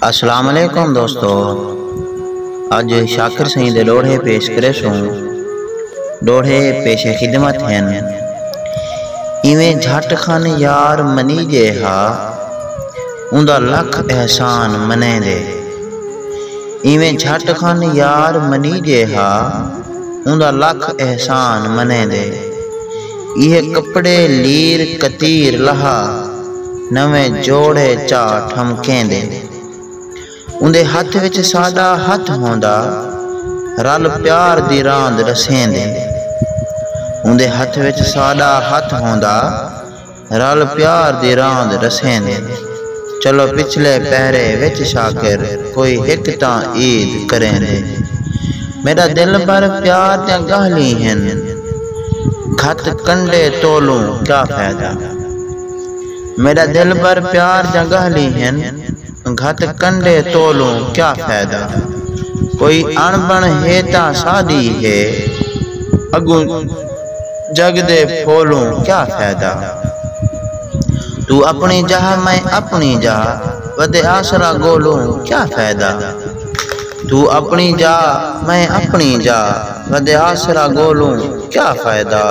السلام علیکم دوستو اج شاکر سائیں دے ڈوڑھے پیش کرے سوں ڈوڑھے پیش خدمت ہیں ایویں جھٹ خان یار منی جے ہا اوندا لکھ احسان منے دے ایویں جھٹ خان یار منی جے ہا اوندا لکھ احسان منے دے یہ کپڑے لیر کتیر لہا نویں جوڑے چا ٹھمکیندے۔ اوندے ہتھ وچ ساݙا ہتھ ہوندا رل پیار دی راند ݙسیندے۔ اوندے ہتھ وچ ساݙا ہتھ ہوندا رل پیار دی راند ݙسیندے۔ چلو پچھلے پہرے وچ شاکر کوئی ہک تاں عید کریندے۔ میݙا دل بھر پیار دیاں ڳالھیں ہن گھت کنڈے تولوں کیا فائدہ۔ میݙا دلبر پیار جاں ڳاہلی ہن گھت کنڈے تولوں کیا فائدہ کوئی اݨ بݨ ہے تاں ساݙی ہے اڳوں جڳ دے پھولوں کیا فائدہ توں اپݨی جاہ میں اپݨی جاہ ودے آسرا ڳولوں کیا فائدہ توں اپݨی جاہ میں اپݨی جاہ ودے آسرا ڳولوں کیا فائدہ۔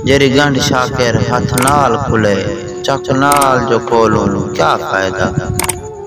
جیڑھی گنڈھ شاکر ہتھ نال کھلے چک نال جو کھولوں کیا فائدہ۔